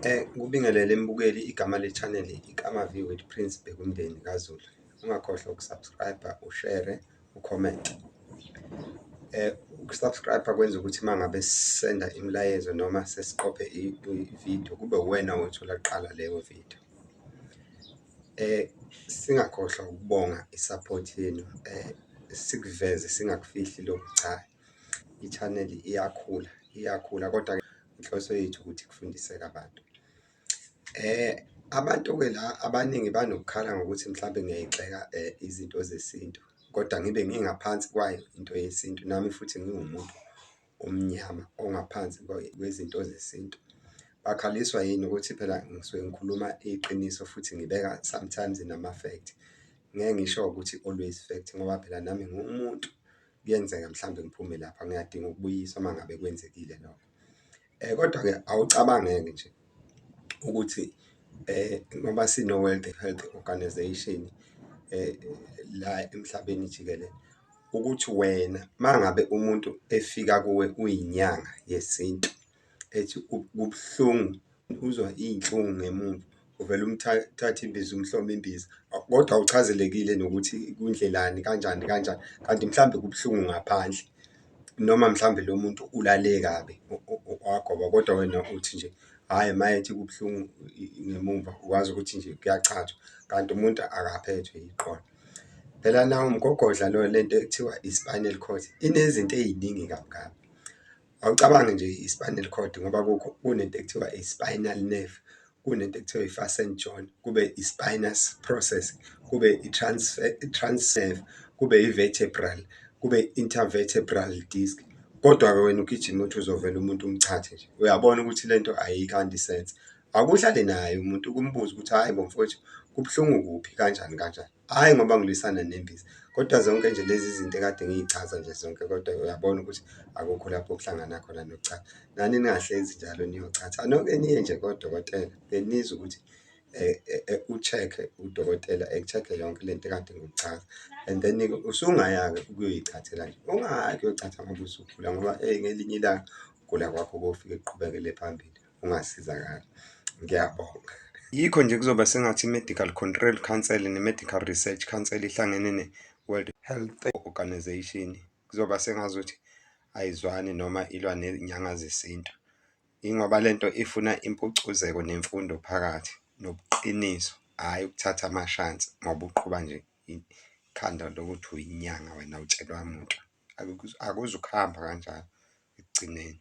Eh, kubingelele mbukeli igama le channel igama view with Prince Bekumndeni kaZulu. Ungakhohlwa ukusubscribe, ushare, ucomment. Eh, ukusubscribe kwenza ukuthi mangabe sisenda imilayezo noma sesiqophe i-video kube uwena othola kuqala leyo video. Eh singakhohlwa ukubonga i-support yenu eh sikuveze singakufihli lokhu cha i-channel iyakhula iyakhula kodwa inhloso yethu ukuthi kufundiseke abantu. Eh abantu-ke la abaningi banokukhala ngokuthi mhlawumbe ngiyayigxeka eh izinto zesintu kodwa ngibe ngingaphansi kwayo into yesintu nami futhi ngiwumuntu omnyama ongaphansi kwezinto zesintu. Bakhaliswa yini ukuthi phela ngisuke ngikhuluma iqiniso futhi ngibeka sometimes nama-fact. Ngeke ngisho ukuthi always fact ngoba phela nami ngiwumuntu, kuyenzeka mhlawumbe ngiphume lapha ngiyadinga ukubuyiswa uma ngabe kwenzekile lokho. Kodwa-ke awucabange-ke nje. ukuthi eh ngoba sino World Health Organization eh la emhlabeni jikelele ukuthi wena mangabe umuntu efika kuwe uyinyanga yesintu ethi kubuhlungu uzwa izinhlungu ngemuva uvela umthatha imbiza umhlome imbiza kodwa uchazelekile nokuthi kundlelani kanjani kanjani kanti mhlambe kubuhlungu ngaphandle. noma mhlawumbe lo muntu ulale kabi wagoba kodwa wena uthi nje hhayi mayethi kubuhlungu ngemumva ukwazi ukuthi nje kuyachathwa kanti umuntu akaphethwe yiqolo. Phela nawo umgogodla lo le nto ekuthiwa i-spinal cord inezinto ey'ningi kabi kabi. Awucabange nje i-spinal cord ngoba kukho kunento ekuthiwa i-spinal nerve, kunento ekuthiwa i-fasten joint kube i-spinous process kube i-transnerve kube i-vertebral kube i-intervertebral disc kodwa-ke wena ugijima uthi uzovela umuntu umchathe nje uyabona ukuthi le nto ayikanti sense akuhlale naye umuntu ukumbuza ukuthi hhayi bo mfowethu kubuhlungu kuphi kanjani kanjani hhayi ngoba ngilwisana nembiza kodwa zonke nje lezi zinto ekade ngiyichaza nje zonke kodwa uyabona ukuthi akukho lapho okuhlangana khona nokuchaza nani ningahlezi njalo niyochatha noke niye nje kodokotela benizwe ukuthi eh, eh, eh, u-check-e udokotela eku-check-e yonke le nto ekade ngikuchaza and then usungaya-ke ukuyoyichathela nje ungayi kuyochatha ngoba usukhula ngoba eyi ngelinye ilanga ukugula kwakho kofike kuqhubekele phambili ungasizakala ngiyabonga yikho nje kuzoba sengathi i-medical control council ne-medical research council ihlangene ne-world health organization kuzoba sengazuthi ayizwani noma ilwa nenyanga zesintu ingoba le nto ifuna impucuzeko nemfundo phakathi nobuqiniso hhayi ukuthatha amashansi ngoba uqhuba nje ikhanda lokuthi uyinyanga wena utshelwa muntu akuzukuhamba kanjalo ekugcineni